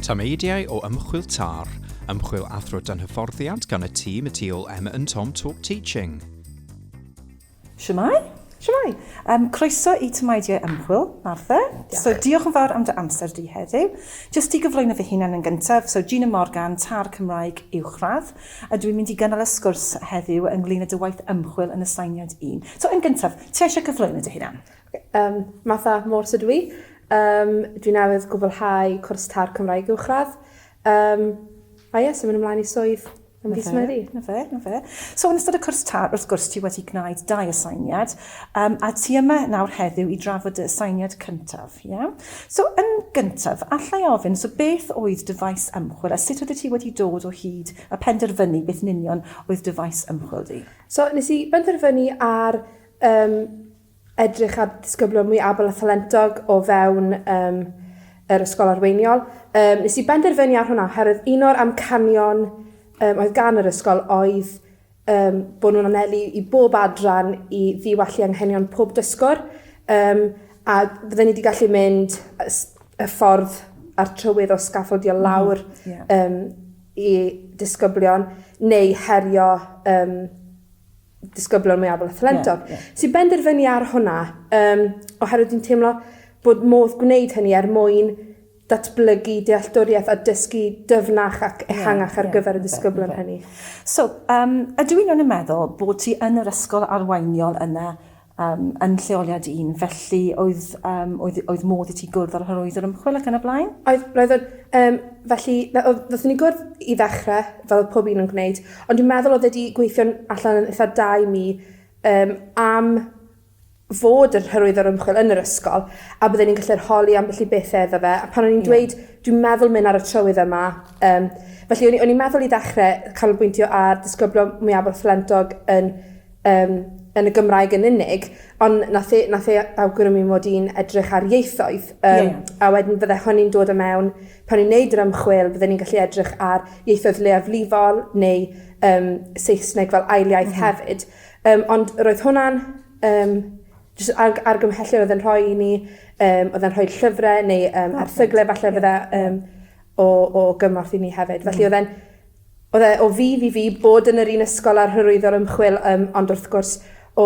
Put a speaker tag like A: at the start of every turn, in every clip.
A: Tameidiau o ymchwil TAR, ymchwil athro dan hyfforddiant gan y tîm y tu ôl Emma and Tom Talk Teaching.
B: Shwmae? Shwmae. Um, croeso i Tymaidiau Ymchwil, Martha. Diolch. So, diolch yn fawr am dy amser di heddiw. Just i gyflwyno fy hunan yn gyntaf, so Gina Morgan, TAR Cymraeg Uwchradd. A dwi'n mynd i gynnal y sgwrs heddiw ynglŷn â dy waith ymchwil yn aseiniad un. So, yn gyntaf, ti eisiau cyflwyno dy hunan? Okay. Um, Martha
C: Morse ydw i. Um, dwi'n newydd gwblhau cwrs tar Cymraeg uwchradd. Um, a ie, symud ymlaen i swydd yn fis Medi. Na fe, na fe.
B: So yn ystod y cwrs tar, wrth gwrs, ti wedi gwneud dau aseiniad, um, a ti yma nawr heddiw i drafod dy aseiniad cyntaf. Ie. So, yn gyntaf, alla i ofyn, so beth oedd dy faes ymchwil a sut oeddet ti wedi dod o hyd a penderfynu beth yn union oedd dy faes ymchwil di? So, nes i
C: benderfynu ar um, edrych ar ddisgyblion mwy abl a thalentog o fewn um, yr ysgol arweiniol. Um, nes i benderfynu ar hwnna oherwydd un o'r amcanion um, oedd gan yr ysgol oedd Yym, bod nhw'n anelu i bob adran i ddiwallu anghenion pob dysgwr, um, a fydden ni wedi gallu mynd y ffordd a'r trywydd o sgaffaldio mhm. lawr mm, yeah. um, i disgyblion neu herio um, disgyblion mwyaf fel athlentog. Yeah, yeah. Sy'n benderfynu ar hwnna, um, oherwydd dwi'n teimlo bod modd gwneud hynny er mwyn datblygu dealltwriaeth a dysgu dyfnach ac ehangach ar gyfer y disgyblion hynny. So, um,
B: ydw i'n iawn yn meddwl bod ti yn yr ysgol arweiniol yna um, yn lleoliad un, felly oedd, um, oedd, oedd modd i ti gwrdd â'r hyrwyd yr ymchwil ac yn y blaen? Oedd, roedd o'n, um,
C: felly, oedd ni gwrdd i ddechrau, fel oedd pob un yn gwneud, ond dwi'n meddwl oedd wedi gweithio'n allan yn eitha da i mi um, am fod yn hyrwyddo'r ymchwil yn yr ysgol a bydden ni'n gallu rholi ambell i bethe iddo fe a pan o'n i'n dweud dwi'n meddwl mynd ar y trywydd yma yym felly o'n i o'n i'n meddwl i ddechre canolbwyntio ar disgyblo mwyafrif phlentog yn yym yn y Gymraeg yn unig ond nath e nath e a- awgrymu mod i'n edrych ar ieithoedd yym... Ie. ...a wedyn fydde hynny'n dod o mewn pan ni'n neud yr ymchwil bydden ni'n gallu edrych ar ieithoedd leiafrifol neu yym Saesneg fel ail iaith hefyd. Yym ond roedd hwnna'n yym jys arg- argymhellion odd e'n rhoi i ni yym odd e'n rhoi llyfre neu yym erthygle falle fydda yym o o gymorth i ni hefyd felly odd e'n odd e o fudd i fi bod yn yr un ysgol â'r hyrwyddo ar ymchwil yym ond wrth gwrs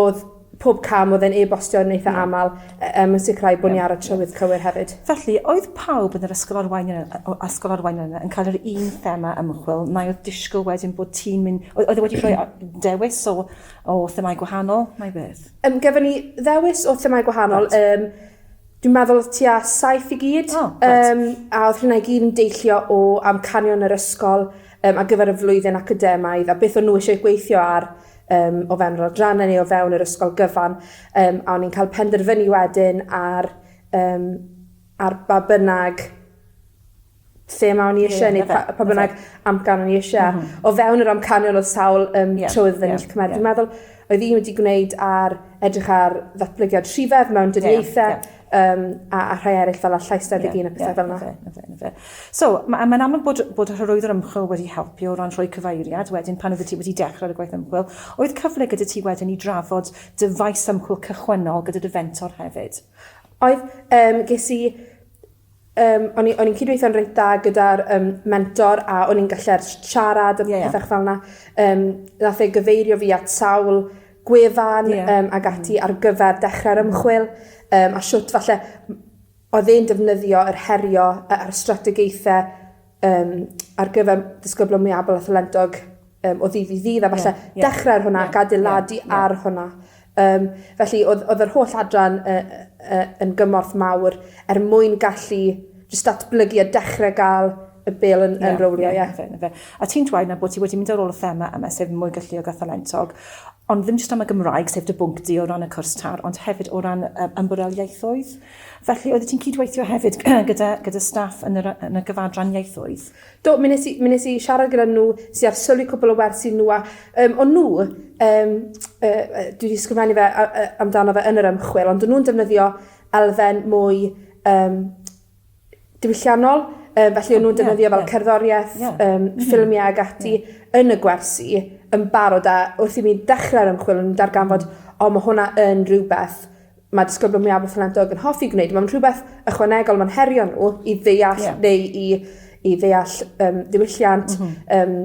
C: odd pob cam odd e'n e-bostio yn eitha amal um, yn sicrhau bod ni ar y trywydd cywir hefyd. Felly, oedd pawb
B: yn yr ysgol arwain ysgol arwain yna yn cael yr un thema ymchwil, neu oedd disgwyl wedyn bod ti'n mynd, oedd e wedi rhoi dewis o, o themau gwahanol, neu beth? Um, Gefyn ni
C: ddewis o themau gwahanol, right. um, Dwi'n meddwl oedd tua saith i gyd, oh, um, a oedd hynna i gyd yn deillio o amcanion yr ysgol um, ar gyfer y flwyddyn academaidd, a beth o'n nhw eisiau gweithio ar yym o fewn yr adrannau neu o fewn yr ysgol gyfan yym a o'n i'n cael penderfynu wedyn ar yym ar ba bynnag thema o'n i isie neu pa pa bynnag amcan o'n i isie a o fewn yr amcanion odd sawl yym trwydd o'n i gallu cymryd. Dwi meddwl oedd un wedi gwneud ar edrych ar ddatblygiad rhifedd mewn dyddiaethe Yym a a rhai eryll fel 'a llais tebyg un a pethe fel 'na. Ie ie ie 'na fe 'na fe 'na fe. So ma' a
B: mae'n amlwg bod bod y hyrwyddwr ymchwil wedi helpu o ran rhoi cyfeiriad wedyn pan oeddet ti wedi dechre ar y gwaith ymchwil. Oedd cyfle gyda ti wedyn i drafod dy faes ymchwil cychwynnol gyda dy fentor hefyd? Oedd. Yym
C: ges i Yym o'n i o'n i'n cydweithio'n reit dda gyda'r yym mentor a o'n i'n gallu'r s- siarad a... Ie ie. ...petha fel 'na yym nath e gyfeirio fi at sawl gwefan... Ie. ...yym ag ati ar gyfer dechre'r ymchwil yym a shwt falle m- odd e'n defnyddio yr herio' yy a'r strategaethe um, ar gyfer disgyblo mwyabol a thalentog um, o ddydd i ddydd, a falle yeah, yeah, dechrau ar hwnna yeah, ac adeiladu yeah, yeah. ar hwnna. Um, felly, oedd, oedd yr holl adran uh, uh, yn gymorth mawr er mwyn gallu just datblygu a dechrau gael y bil yn, yeah, yn rowlio, ie. Yeah, yeah. yeah. A ti'n
B: dweud na bod ti wedi mynd ar ôl y thema yma, sef mwy galluog a thalentog, ond ddim jyst am y Gymraeg, sef dy bwnc di o ran y cwrs tar, ond hefyd o ran um, ymborel ieithoedd? Ie, Felly, oeddet ti'n cydweithio hefyd gyda, gyda staff yn, yr, yn y gyfadran ieithoedd? Do, mi nes i, mi
C: nes i siarad gyda nhw, si ar sylwi cwbl o wersi nhw, a um, o'n nhw, um, uh, dwi wedi sgrifennu fe uh, uh, amdano fe yn yr ymchwil, ond o'n nhw'n defnyddio elfen mwy um, diwylliannol, um, felly o'n nhw'n defnyddio yeah, fel yeah. cerddoriaeth, yeah. um, mm -hmm. ffilmiau ag ati yeah. yn y gwersi yn barod, a wrth i mi ddechrau'r ymchwil, o'n nhw'n darganfod, o, mae hwnna yn rhywbeth mae disgyblion mwyafrif talentog yn hoffi gwneud mae'n rhywbeth ychwanegol mae'n herio n'w i ddeall... Ie. ...neu i i ddeall yym diwylliant... M-hm. ...yym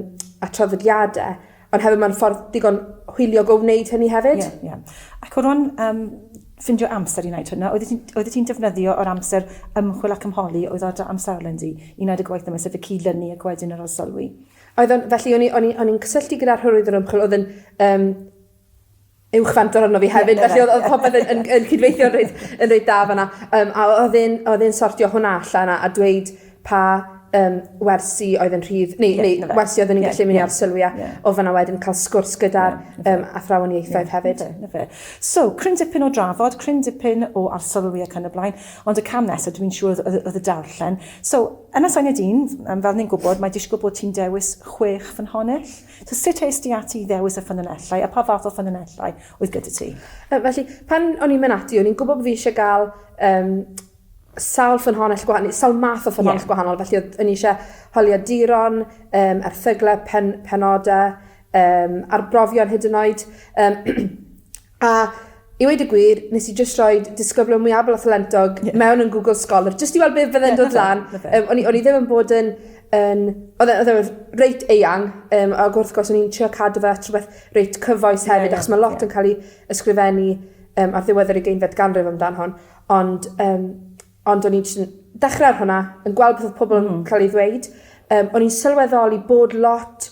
C: a traddodiade ond hefyd ma'n ffordd digon hwyliog o wneud hynny hefyd. Ie ie. Ac o ran
B: yym ffindio amser i neud hwnna oeddet ti'n oeddet ti'n defnyddio yr amser ymchwil ac ymholi oedd ar dy amserlen di i neud y gwaith yma sef y cyd-lynu ac wedyn yr arsylwi? Oedd o'n felly o'n i
C: o'n i o'n i'n cysylltu gyda'r hyrwyddo ymchwil o'dd yn yym uwchben dod arno fi hefyd felly o'dd o'dd popeth yn yn yn cydweithio'n reit yn reit da fan 'na. Yym a o- o'dd e'n o'dd e'n sortio hwnna allan a a dweud pa yym wersi oedd yn rhydd neu neu wersi odden ni'n gallu myn' i arsylwi at o fana wedyn ca'l sgwrs gyda'r yym athrawon ieithoedd hefyd. 'Na fe. So cryn
B: dipyn o drafod cryn dipyn o arsylwi ac yn y blaen ond y cam nesa dwi'm yn siŵr o'dd o'dd o'dd y darllen. So Ynys Enid un yym fel ni'n gwbod mae disgwl bod ti'n dewis chwech ffynhonnell. So sut est ti ati i ddewis y ffynonellau a pa fath o ffynonellau oedd gyda ti? Uh, felly, pan
C: o'n i'n mynd ati, o'n i'n gwybod bod fi eisiau gael um, sawl ffynhonell gwahanol, sawl math o ffynhonell yeah. gwahanol, felly oedd yn eisiau holiaduron, um, erthyglau, pen, penodau, um, arbrofion hyd yn oed. Um, A i weud y gwir, nes i jyst rhoi disgyblion mwyabol a thalentog yeah. mewn yn Google Scholar, jyst i weld beth fydde'n yeah, dod lan. Um, o'n, i, o'n i ddim yn bod yn... Um, oedd e, e reit eang, um, ac wrth gwrs o'n i'n trio cadw fe at rhywbeth reit cyfoes hefyd, yeah, yeah, achos mae lot yeah. yn cael ei ysgrifennu um, ar ddiwedd yr ugeinfed ganrif amdan hon, ond, um, ond o'n i'n dechrau ar hwnna, yn gweld beth oedd pobl yn mm. cael ei ddweud, um, o'n i'n sylweddoli bod lot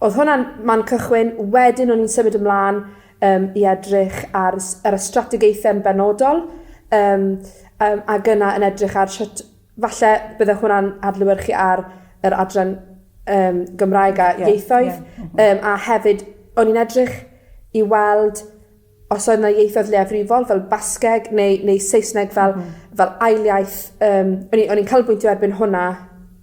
C: Oedd hwnna'n man cychwyn. Wedyn o'n i'n symud ymlaen um, i edrych ar, ar y strategaethau yn benodol um, um, a gyna yn edrych ar sut falle bydde hwnna'n adlywyrchu ar yr adran um, Gymraeg a yeah, ieithoedd yeah. Mm -hmm. um, a hefyd o'n i'n edrych i weld os oedd 'na ieithoedd leiafrifol fel Basgeg neu neu Saesneg fel fel ail iaith yym o'n i o'n i'n canolbwyntio erbyn hwnna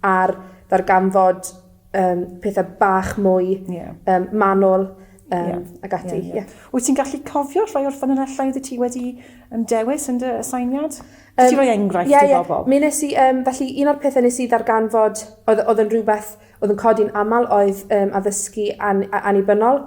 C: ar ddarganfod yym pethe bach mwy... Ie. ...yym manwl yym... Ie. ...ag ati. Ie ie. Ie. Wyt ti'n gallu
B: cofio rhai o'r ffynonellau oddet ti wedi yym dewis yn dy aseiniad? Yym. Allet ti roi enghraifft i bobol? Ie ie. Mi nes i yym felly
C: un o'r pethe nes i ddarganfod oedd o'dd yn rwbeth o'dd yn codi'n amal oedd yym addysgu an- a- annibynnol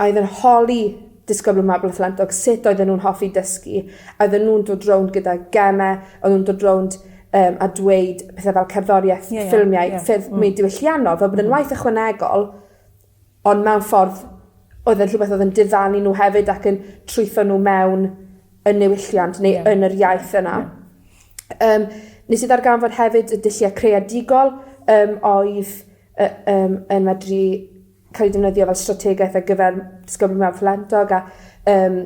C: a oedd yn holi disgyblion Maboleth Llanllwg sut oedden nhw'n hoffi dysgu, a oedden nhw'n dod rownd gyda gemau, oedden nhw'n dod rownd um, a dweud pethau fel cerddoriaeth, yeah, yeah, ffilmiau, yeah, ffyrdd mm. mwy diwylliannol, fel bod yn mm. waith ychwanegol, ond mewn ffordd oedd yn rhywbeth oedd yn diddannu nhw hefyd ac yn trwytho nhw mewn y newylliant neu yeah. yn yr iaith yna. Yeah. Um, nes i ddarganfod hefyd y dulliau creadigol um, oedd uh, um, yn medru cael ei defnyddio fel strategaeth ar gyfer disgyblion mewn talentog a yym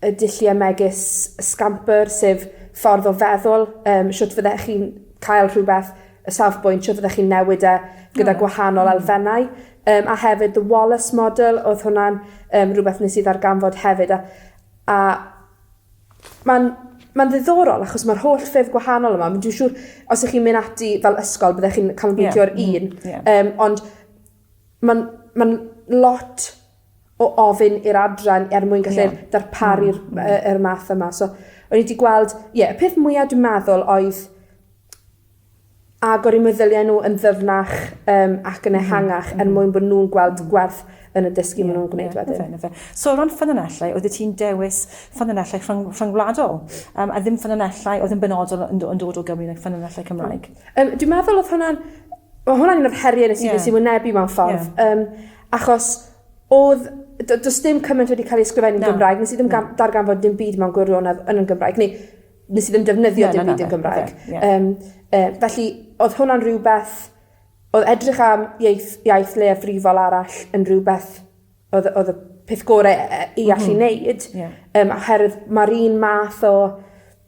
C: y dullie megis y scampwr sef ffordd o feddwl yym shwt fyddech chi'n cael rhwbeth y safbwynt shwt fyddech chi'n newid e gyda gwahanol elfennau yym a hefyd the Wallace Model odd hwnna'n yym rwbeth nes i ddarganfod hefyd a a ma'n ma'n ddiddorol achos ma'r holl ffyrdd gwahanol yma m- dwi siŵr os 'ych chi'n myn' ati fel ysgol byddech chi'n canolbwyntio ar un... Ie ie. ...yym ond ma'n ma'n lot o ofyn i'r adran er mwyn gallu... Ie. ...darparu'r m- yy yr math yma so o'n i 'di gweld ie y peth mwya dwi meddwl oedd agor 'u meddylie n'w yn ddyfnach yym ac yn ehangach er mwyn bo' nw'n gweld gwerth yn y dysgu ma' nw'n gwneud wedyn. Ie ie yfe yfe. So o ran
B: ffynonellau oeddet ti'n dewis ffynonellau rhyng- rhyngwladol yym a ddim ffynonellau oedd yn benodol yn do- yn dod o Gymru like ffynonellau Cymraeg? Yym dwi meddwl odd
C: hwnna'n Ma' hwnna'n un o'r herie nes i... Ie. ...nes i wynebu mewn ffordd. Ie. Yym achos odd do- do's dim cymaint wedi ca'l ei ysgrifennu... Na. ...yn Gymraeg nes i ddim gam- darganfod dim byd mewn gwirionedd yn yn Gymraeg neu nes i ddim defnyddio... Na na na. ...dim byd yn Gymraeg. Ie ie. Yym yy felly odd hwnna'n rhywbeth odd edrych am ieith- iaith leiafrifol arall yn rhywbeth odd y odd y peth gore yy i allu neud. Ie. Yym oherwydd ma'r un math o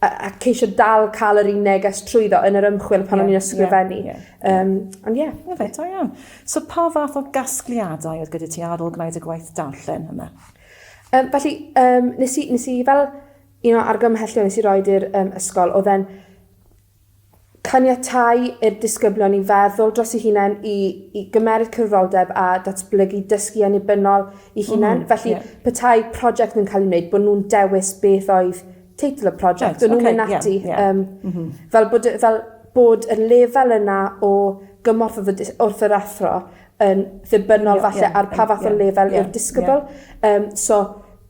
C: a a ceisio dal ca'l yr un neges trwyddo yn yr ymchwil pan o'n i'n ysgrifennu. Ie ie ie. Yym ond ie. Ma' fe da iawn.
B: So pa fath o gasgliadau oedd gyda ti ar ôl gwneud y gwaith darllen yma? Yym felly
C: yym nes i nes i fel un o argymhellion nes i roid i'r yym ysgol odd e'n Caniatáu i'r disgyblion i feddwl dros eu hunain, i i gymeryd cyfroldeb a datblygu dysgu annibynnol eu hunain. Felly, petai prosiect yn cael ei wneud, bod nhw'n dewis beth oedd teitl y prosiect. O'n nhw'n mynd ati yym fel bod y fel bod y lefel yna o gymorth wrth y dys- wrth yr athro yn ddibynnol falle ar pa fath o lefel yw'r disgybl. Yym so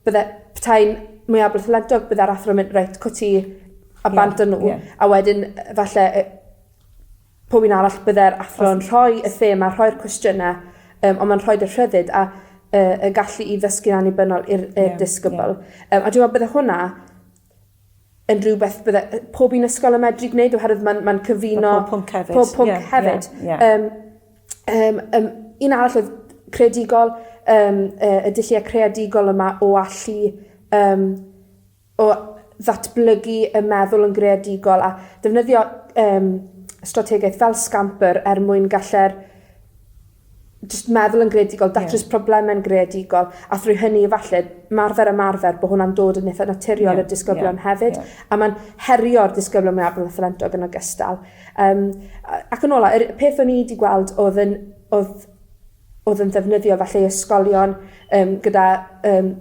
C: bydde petai'n mwyablythlentog bydde'r athro'n mynd reit 'co ti a bant â n'w. Ie. A wedyn yy falle yy pwy 'yn arall bydde'r athro yn rhoi y thema rhoi'r cwestiyne yym on' ma'n rhoid y rhyddid a yy y gallu i ddysgu'n annibynnol i'r i'r disgybl. Yym a dwi me'wl bydde hwnna yn rhywbeth bydde yy pob un ysgol yn medru gwneud oherwydd ma'n ma'n cyfuno... Ma' pob pwnc hefyd. ...pob
B: pwnc hefyd. Ie
C: ie ie. Yym yym yym un arall odd creadigol yym yy y dullie creadigol yma o allu yym o ddatblygu y meddwl yn greadigol a defnyddio yym strategaeth fel Scamper er mwyn galle'r jyst meddwl yn greadigol datrys... Ie. ...probleme'n greadigol a thrwy hynny efalle 'marfer ymarfer bo' hwnna'n dod yn itha naturiol... Ie ie. ...i'r disgyblion hefyd. Ie. A ma'n herio'r disgyblion mwyaf talentog yn ogystal. Yym a- ac yn ola yr peth o'n i 'di gweld odd yn odd odd yn ddefnyddiol falle i ysgolion yym gyda yym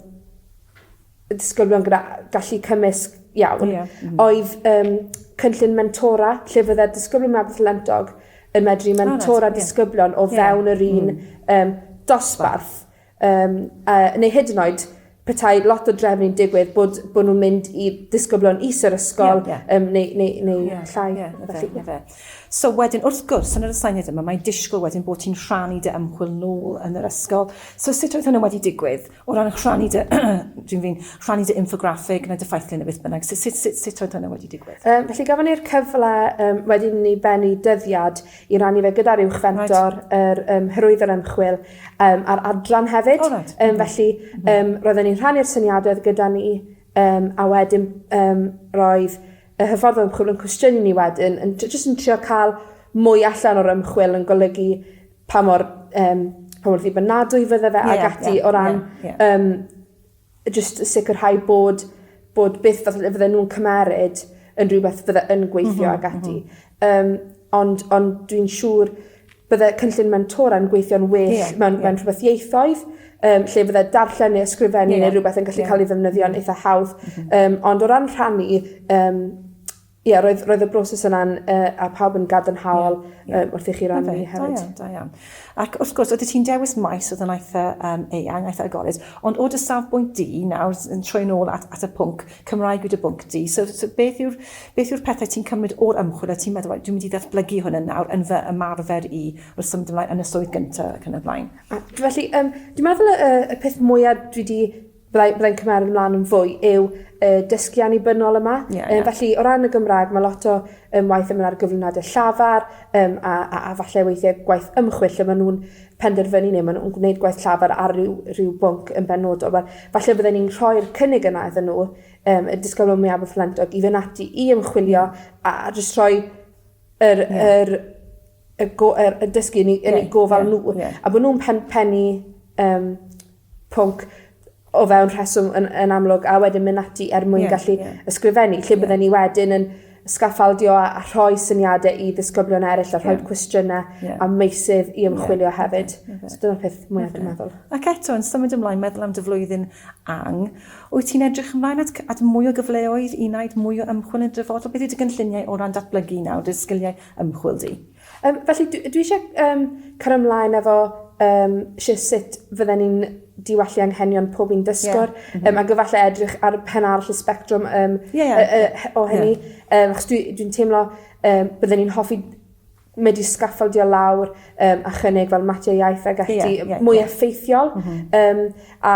C: disgyblion gyda gallu cymysg iawn... Ia. ...m-hm. ...oedd yym cynllun mentora lle fydde'r disgyblion Mabinthlantog yn medru mentora disgyblion o fewn yr un yym dosbarth yym a neu hyd yn oed petai lot o drefnu'n digwydd bod bo' nw'n mynd i disgyblion is yr ysgol... Ie ie. ...yym neu neu neu llai. Ie ie ie felly. Ie ie. So
B: wedyn wrth gwrs yn yr aseiniad yma mae'n disgwyl wedyn bo' ti'n rhannu dy ymchwil nôl yn yr ysgol so sut oedd hwnna wedi digwydd? O ran rhannu dy, dwi'n fi'n, rhannu dy infograffig neu dy ffaithlun neu beth bynnag, sut, sut, sut, sut oedd hynny wedi digwydd? Um, felly gafon ni'r cyfle
C: um, wedyn ni bennu dyddiad i rannu fe gyda'r uwch fentor, right. yr um, hyrwydd yr ymchwil um, a'r adran hefyd. Oh, right. um, felly um, roedden ni'n rhannu'r syniadau gyda ni um, a wedyn um, roedd y hyffordd ymchwil yn cwestiynu ni wedyn, yn, jyst yn trio cael mwy allan o'r ymchwil yn golygu pa mor yym pa mor ddibynadwy fydde fe ag ati o ran yym jyst sicirhau bod bod beth fel fydde fydde nw'n cymeryd yn rhywbeth fydde yn gweithio ag ati. Yym ond ond dwi'n siŵr bydde cynllun mentora'n gweithio'n well... Ie ie. ...mewn mewn rhwbeth ieithoedd yym lle fydde darllen ne' ysgrifennu ne' rwbeth yn gallu ca'l 'i ddefnyddio'n itha hawdd. M-hm. Yym ond o ran rhannu yym Ie roedd roedd y broses yna'n yy a pawb yn gadarnhaol yy wrth i chi rannu hefyd. Da iawn, da iawn.
B: Ac wrth gwrs, oeddet ti'n dewis maes oedd yn eitha um, eang, eitha agored, ond o dy safbwynt di, nawr yn troi'n ôl at, at y pwnc, Cymraeg yw dy bwnc di, so, so beth yw'r beth yw'r pethau ti'n cymryd o'r ymchwil a ti'n meddwl, dwi'n mynd i ddatblygu hwn yn nawr yn fy ymarfer i wrth symud ymlaen yn y swydd gyntaf ac yn y blaen? A, felly, um,
C: dwi'n meddwl y, y peth mwyaf dwi wedi byddai byddai'n cymeryd ymlan yn fwy yw y dysgu annibynnol yma. Ie ie. Yym felly o ran y Gymrag ma' lot o yym waith yn myn' ar gyflwyniade llafar yym a a a falle weithie gwaith ymchwil lle ma' nw'n penderfynu ne' ma' nw'n gwneud gwaith llafar ar ryw ryw bwnc yn benodol wel falle bydden ni'n rhoi'r cynnig yna iddyn n'w yym y disgyblion mwyaf ffylenntog i fyn' ati i ymchwilio a a jyst rhoi yr yr y go- yr y dysgu yn 'u yn 'u gofal n'w. Ie ie. A bo' nw'n pen- pennu yym pwnc o fewn rheswm yn yn amlwg a wedyn myn' ati er mwyn gallu... Ie ie. ...ysgrifennu lle bydden ni wedyn yn sgaffaldio a a rhoi syniade i ddisgyblion eryll a rhoi cwestiyne... Ie. ...a meysydd i ymchwilio hefyd. Ie ie. So dyna'r peth mwya dwi'n meddwl. Ac eto yn symud
B: ymlaen meddwl am dy flwyddyn ang- wyt ti'n edrych ymlaen at c- at mwy o gyfleoedd i wnaud mwy o ymchwil yn y dyfodol beth yw dy gynlluniau o ran datblygu nawr dy sgiliau ymchwil di? Um, felly, dwi, dwi
C: eisiau um, cael ymlaen efo um, eisiau sut fydden ni'n diwallu anghenion pob un dysgwr, yeah. mm -hmm. um, ac efallai edrych ar pen arall y spectrwm um, yeah, yeah. Uh, uh, o hynny. Yeah. Um, achos dwi'n dwi teimlo um, bydden ni'n hoffi mynd i sgaffaldio lawr um, a chynnig fel matiau iaith ag ati yeah, yeah, mwy yeah. effeithiol. Mm -hmm. um, a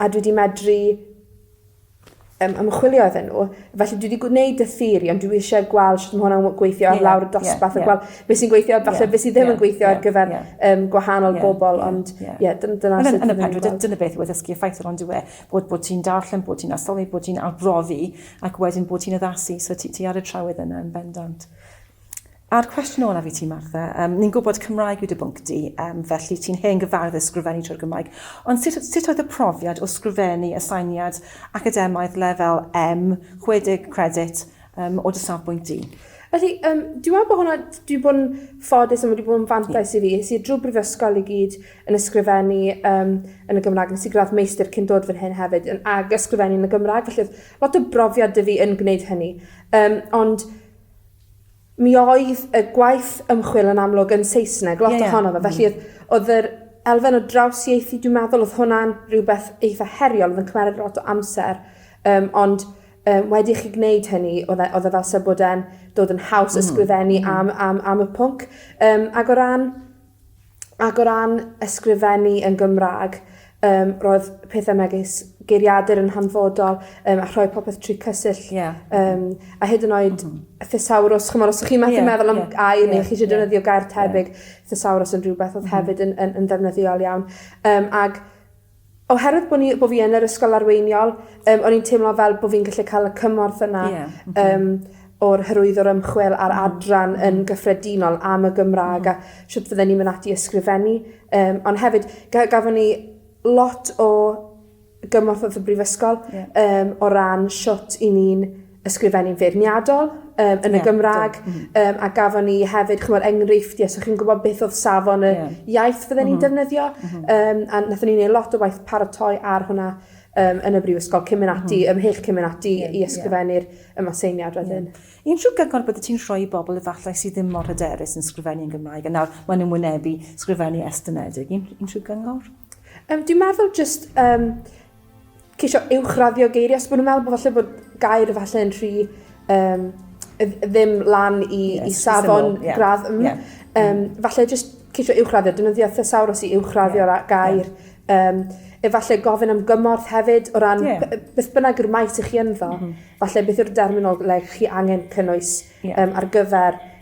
C: a dwi 'di medru yym ymchwilio iddyn n'w felly dwi 'di gw- neud y theori ond dwi isie gweld shwt ma' hwnna'n w- gweithio ar lawr y dosbarth a gwel be' sy'n gweithio a falle be' sy ddim yn gweithio ar gyfer yym gwahanol bobol ond ie dyn- dyna sut dwi'n neud e. Dyna beth yw
B: addysgu effeithiol on'd yw e? Bod bod ti'n darllen bod ti'n arsylwi bod ti'n arbrofi ac wedyn bod ti'n addasu so ti ti ar y trywydd yna yn bendant. A'r cwestiwn olaf i ti, Martha. Um, ni'n gwybod Cymraeg yw dy bwnc di, um, felly ti'n hen gyfarwydd sgrifennu trwy'r Gymraeg. Ond sut, sut oedd y profiad o sgrifennu y sainiad academaidd lefel M, 60 credit, um, o dy safbwynt di? Felly, um,
C: dwi'n meddwl bod hwnna, dwi'n bod yn ffodus a mae wedi bod yn fantais i fi. Nes i drwy brifysgol i gyd yn ysgrifennu um, yn y Gymraeg. Nes i gradd meistr cyn dod fan hyn hefyd yn ag ysgrifennu yn y Gymraeg. Felly, lot o brofiad dy fi yn gwneud hynny. Um, ond Mi oedd y gwaith ymchwil yn amlwg yn Saesneg, lot yeah, yeah. ohono fe, felly mm. oedd, oedd yr elfen o drawsieithu, dwi'n meddwl oedd hwnna'n rhywbeth eitha heriol, oedd yn cymryd lot o amser, um, ond um, wedi chi gwneud hynny, oedd e, oedd e fel sef bod e'n dod yn haws mm. ysgrifennu mm. am, am, am y pwnc. Um, ac o ran Ac o ran ysgrifennu yn Gymra'g yym roedd pethe megis geiriadur yn hanfodol yym a rhoi popeth trwy Cysill. Ie. Yym a hyd yn oed... M-hm. ...y thesawrws ch'mod os o'ch chi methu meddwl am gair ne' chi isio defnyddio gair tebyg thesawrws yn rhwbeth odd hefyd yn yn yn ddefnyddiol iawn. Yym ag Oherwydd bo' ni bo' fi yn yr ysgol arweiniol yym o'n i'n teimlo fel bo' fi'n gallu ca'l y cymorth yna... Ie oce. ...yym o'r hyrwyddwr ymchwil a'r adran yn gyffredinol am y Gymra'g a shwt fydden ni'n myn' ati i ysgrifennu yym on' hefyd ga- gafon ni lot o gymorth wrth y brifysgol... Ie. ...yym o ran shwt 'yn ni'n ysgrifennu feirniadol yym yn y Gymrag yym a gafon ni hefyd ch'mod enghreifftie so chi'n gwbod beth odd safon y iaith fydden ni'n defnyddio yym a nathon ni neu' lot o waith paratoi ar hwnna yym yn y brifysgol cyn myn' ati ymhell cyn myn' ati i ysgrifennu'r y Maseiniad wedyn. Unrhyw gyngor byddet
B: ti'n rhoi i bobol efallai sy ddim mor hyderus yn sgrifennu yn Gymraeg a nawr ma' nw'n wynebu sgrifennu estynedig un- unrhyw gyngor? Yym dwi meddwl
C: jyst yym ceisio uwchraddio geiriau, achos bod nhw'n meddwl bod falle bod gair falle yn rhy um, ddim lan i, yes, i safon yeah. gradd. Mm, yeah. um, falle jyst ceisio uwchraddio, dynyddio thesaurus i uwchraddio yeah. gair. Yeah. Um, efallai gofyn am gymorth hefyd o ran yeah. beth bynnag yw'r maes i chi ynddo. Mm -hmm. Falle beth yw'r derminoleg chi angen cynnwys yeah. um, ar gyfer